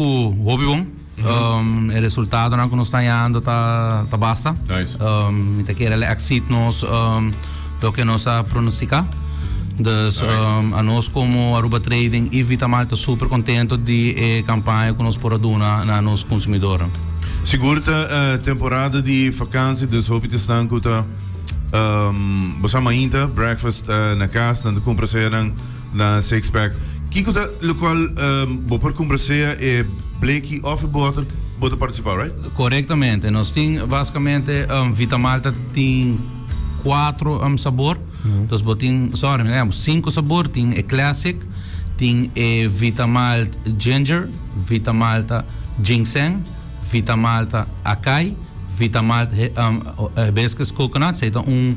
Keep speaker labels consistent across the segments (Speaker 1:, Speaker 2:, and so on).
Speaker 1: Cu hopi bon. E resultadonan cu nos ta hallando ta basta.
Speaker 2: Mi ta kere el a
Speaker 1: exceed nos loke nos a pronostica. Dus anos como Aruba Trading y Vitamark ta super contento di e campaña cu nos por a duna na nos consumidoren. Sigur ta
Speaker 2: temporada di vakantie, dus hopi ta staan cu ta, bo sa mainta, breakfast na cas nan ta cumpra sa eran. Na sixpack. Kiko ta locual bo por cumpra sea e bleki of e boter bo ta participa, right? Correctamente. Nos
Speaker 1: tin basicamente Vitamalta tin cuatro sabor. Dus bo tin, sorry, un ehempel, cinco sabor. Tin e classic, tin e Vitamalt Ginger, Vitamalta Ginseng, Vitamalta Acai, Vitamalt Hibiscus Coconut. Sa e ta un.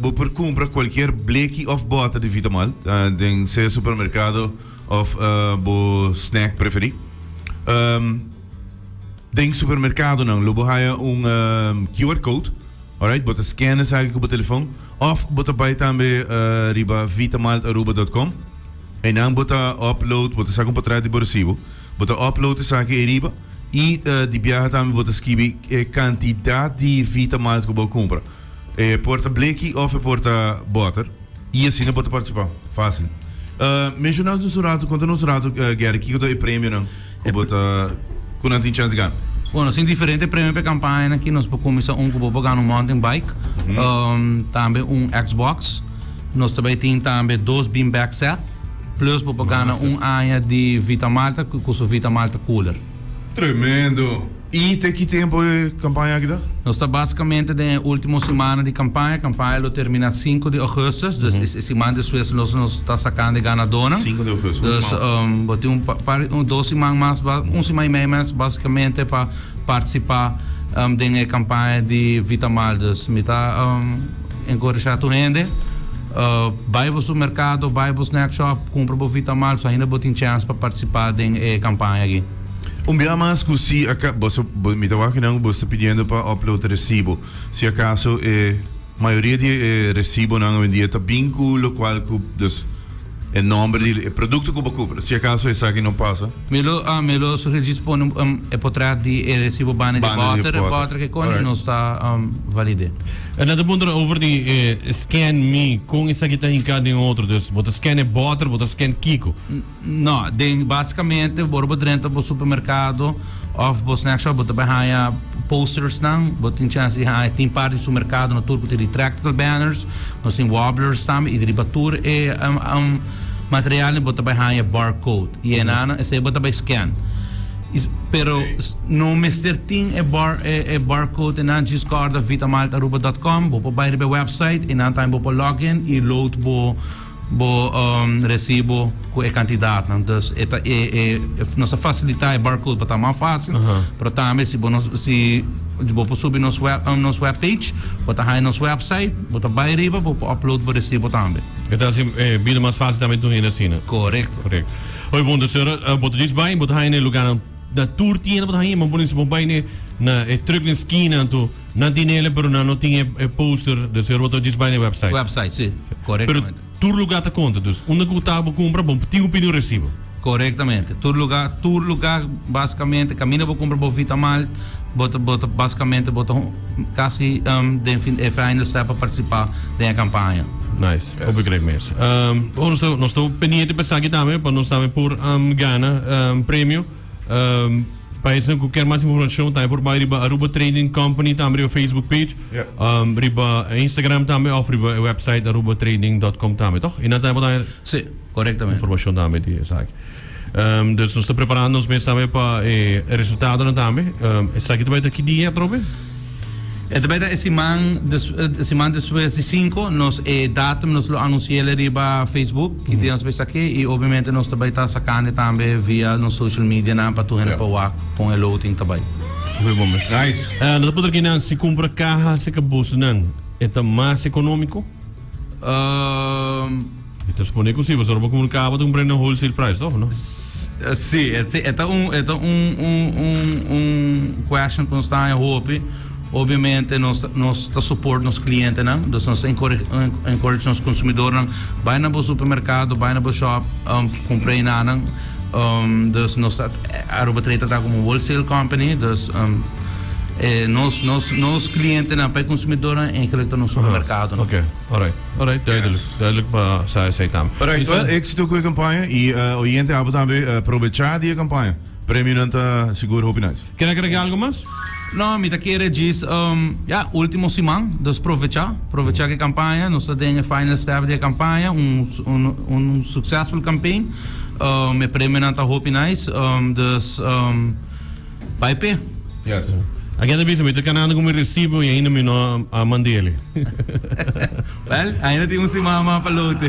Speaker 2: Bo por cumpra cualkier bleki of bota di Vitamalt den sea supermercado of bo snack preferi. Den supermercadonan lo bo haya un QR code, alright, bo ta scan esaki cu bo telefon of bo ta bay tambe riba vitamaltaruba.com. Eynan bo ta upload, bo ta saca un potret di bo recibo, bo ta upload esaki ey riba y di biaha tambe bo ta skibi e cantidad di Vitamalt cu bo a cumpra. E por ta bleki of e por ta boter y asina bo ta participa. Facil. Mencionas nos un rato, conta nos un rato Gerry, kico ta e premionan cu bo ta, cu nan tin chance gana? Bueno, nos tin diferente
Speaker 1: premio p'e campañanan aki. Nos por cuminsa un cu bo por gana un mountain bike, tambe un Xbox. Nos ta bay tin tambe dos bean bag set, plus bo por gana un aña di Vitamalta cu su Vitamalta cooler. Tremendo!
Speaker 2: I te ki tempu e kampaña aki ta? Nos ta basikamente
Speaker 1: den e ultimo simana di kampaña, kampaña lo termina sinku di ougustus, dus e e siman despues nos nos ta sakando e ganadónan. Sinku di ougustus, un
Speaker 2: siman. Dus bo tin
Speaker 1: un pa par un dos siman mas ba un siman i mei mas basikamente pa partisipá den e kampaña di Vitamal. Dus mi ta enkoreshá tur hende bai bo supermerkado, bai bo snack shop kumpra bo Vitamal, pasobra ainda bo tin chèns pa partisipá den e kampaña aki. Un bia mas
Speaker 2: cu si aca, boso, bo, mi ta wak kinan cu boso ta pidiendo pa upload e recibo. Si acaso e mayoria di e recibonan awendia ta bin cu locual cu, dus, e nomber di e producto cu bo cumpra. Si acaso esaki no pasa. Mi lo, ah, mi lo
Speaker 1: sugerí si pone un, um, e potret di e recibo banda di Banda di butter, butter. butter ke koni, Alright. no sta, um, valide. E nan ta puntra
Speaker 3: over di e scan mi, con esaki ta hinca den otro. Dus, bo ta scan e butter, bo ta scan kico? No, den
Speaker 1: basikamente ora bo drenta bo supermerkado òf bo snack shop bo ta bai haña postersnan. Bo tin chèns di haña, tin parti di supermerkado na tur ku tin retractable banners, nos tin wobblers tambe i riba tur e materialnan bo ta bai haña barcode i enanan esei bo ta bai scan. Pero no mester tin e e barcode enan djis kòrda vitamaltaAruba dòt kòm. Bo por bai riba e wèpsait i nan tambe bo por lògin i load bo. Bo resibo cu e cantidadnan. Dus e ta e e nos ta facilita e barcode pa ta mas facil. Pero tambe si bo no si bo por subi nos web nos web page bo ta haña nos website bo ta bay riba bo por upload bo resibo tambe. E ta haci e
Speaker 3: bida mas facil tambe tur hende asina. Correcto. Correcto.
Speaker 1: Oye punto
Speaker 3: sero bo ta djis bay bo ta haña ne lugarnan na tur tienda bo ta haña y bo por ejemplo si bo bay ne na e truck na esquina anto. Nan tin ele pero nan no tin e poster de ser roto djis bai na e website. Website, si. Korektamente.
Speaker 1: Pero tur luga ta konta.
Speaker 3: Dus unda ku ta bo kumpra bo tin opinion resibo. Korektamente. Tur
Speaker 1: luga, tur luga basikamente kaminda bo kumpra bo Vitamalt bo ta bo ta basikamente bo ta kasi den fin e final step pa partisipa den e kampaña. Nice. Hopi
Speaker 3: krek mes. Nos ta pendiente pa esaki tambe pa nos tambe por gana premio. Um, pa esnan ku ker mas informashon tambe por bai riba Aruba Trading Company tambe riba Facebook page, Ja. um, riba Instagram tambe of riba e website arubatrading.com tambe, toch? En dan tambe por bai Sí, correctamente.
Speaker 1: informashon tambe di
Speaker 3: esaki. Um, dus nos ta preparando ons mes tambe pa e resultado tambe. Um, esaki ta bai ta ki dia, Trobe? E ta bai
Speaker 1: ta e siman siman despues di sinku nos e datum nos lo anunciele riba Facebook ki dia nos bai saki i obviamente nos ta bai ta sakandi tambe via nos social medianan pa tur hende por wak kon e loting ta bai. Muy bon mes
Speaker 2: nice. E no ta por kinan si
Speaker 3: kumpra kaha seka busnan e ta mas ekonómiko? Mi ta responde cu si, pasobra bo comunicaba cu tin un prenda en wholesale price, toch o no? Si,
Speaker 1: e ta un, e ta un, un, un, un question cu nos ta haña hopi. Obviamente nos ta, nos ta support nos clientenan, dus nos ta encourage, encourage nos consumidornan, bay na bo supermercado, bay na bo shop, um, cumpra e nanan. Um, dus nos ta, Aruba Trade ta traha como un wholesale company, dus, um, e nos, nos, nos clientenan, pa e consumidornan, e eigenlijk ta nos supermercadonan. Orait,
Speaker 3: orait, duidelijk. Yes. Duidelijk pa sa esei tambe. Orait, Isa? well, éxito
Speaker 2: cu e campaña y eh, oyente abo tambe eh, probecha di e campaña. Premionan ta sigur hopi nice. Ken a kere algo mas?
Speaker 3: No, mi ta kere
Speaker 1: djis, um, ya, ultimo siman, dus provecha, provecha cu e campaña, nos ta den e final step di e campaña, un, s- un, un succesful campaign, um, e premionan ta hopi nice, um, dus, um, Bai pe.
Speaker 2: Agen ta bisa mi
Speaker 3: ta kanando como e recibo y ainda mi no
Speaker 1: a
Speaker 3: mandele.
Speaker 1: Well,
Speaker 3: ainda
Speaker 1: tin un
Speaker 3: siman
Speaker 1: mas pa
Speaker 3: lote.